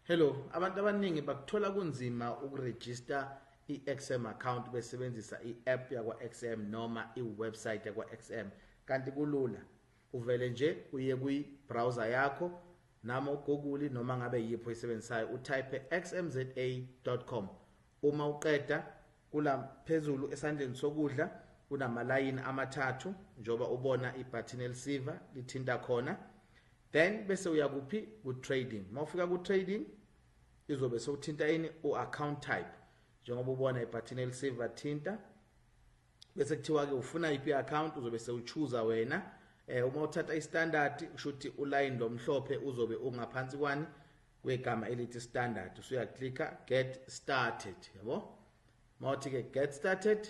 Hello, abantu abaningi bakuthola kunzima ukuregister i-XM account besebenzisa i-app yakwa-XM noma i-website yakwa-XM kanti kulula uvele nje uye kwi-browser yakho noma ugoogle noma ngabe yiphi oyisebenzisayo utype xmza.com Uma uqeda kula phezulu esandleni sokudla kunamalayini amathathu njengoba ubona ibutton elisiva lithinta khona then bese uya kuphi ku trading mawufika ku trading izobe sokuthinta ini u account type njengoba ubona ibutton elisiva thinta bese kuthiwa ke ufuna iphi account uzobe sewuchuza wena eh uma uthatha istandard ushuthi uline lomhlophe uzobe ungaphansi kwani kwegama elithi standard usuya clicker get started yabo mawuthi ke get started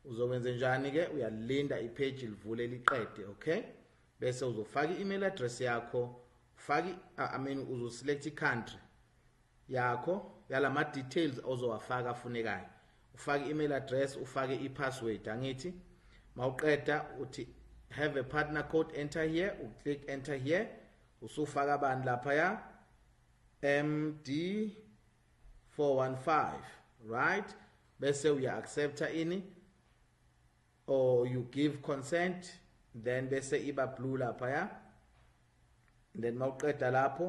uzokwenze njani ke uyalinda ipage livule liqede okay bese uzofaka i-email address yakho ufaki i mean uzoselect i-country yakho yalama details ozowafaka afunekayo ufake i-email address ufake i-password angithi mawuqeda uthi have a partner code enter here uclick enter here Usufaka bani lapha ya? MD 415 right bese uya accepta ini or you give consent then bese iba blue lapha ya then mawuqeda lapho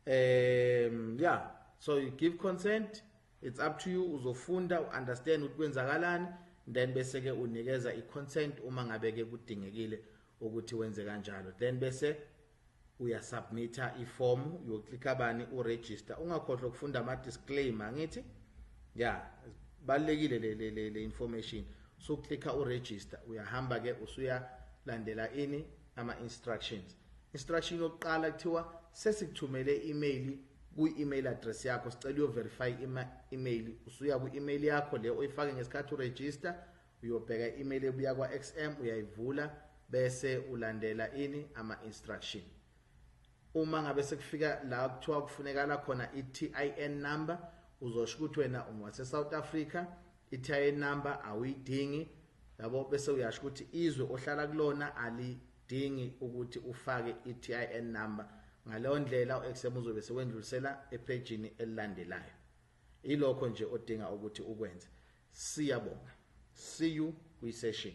um yeah so you give consent it's up to you uzofunda uunderstand ukuthi kwenzakalani then bese ke unikeza iconsent uma ngabe ke kudingekile ukuthi wenze kanjalo then bese uyasubmitha iform uyoclicka bani uregister ungakhohlwa ukufunda ama disclaimer ngithi ya balekile le le le, le information so clicka uregister uyahamba ke usuya landela ini ama instructions instruction yokuqala kuthiwa sesikuthumele email kwi-email address yakho sicela uyoverify ima-email usuya kwi-email yakho le oyifake ngesikhathi uregister Uyobheka i-email ebuya kwa-XM uyayivula bese ulandela ini ama instruction. Uma ngabe sekufika la kuthiwa kufunekala khona i-TIN number uzosho ukuthi wena ungwase South Africa i-TIN number awuyidingi yabo bese uyasho ukuthi izwe ohlala kulona alidingi ukuthi ufake i-TIN number ngaleyo ndlela u-XM uzobe sewendlulisela ephejini elilandelayo Ilokho nje odinga ukuthi ukwenze. Siyabonga. See you kwi session.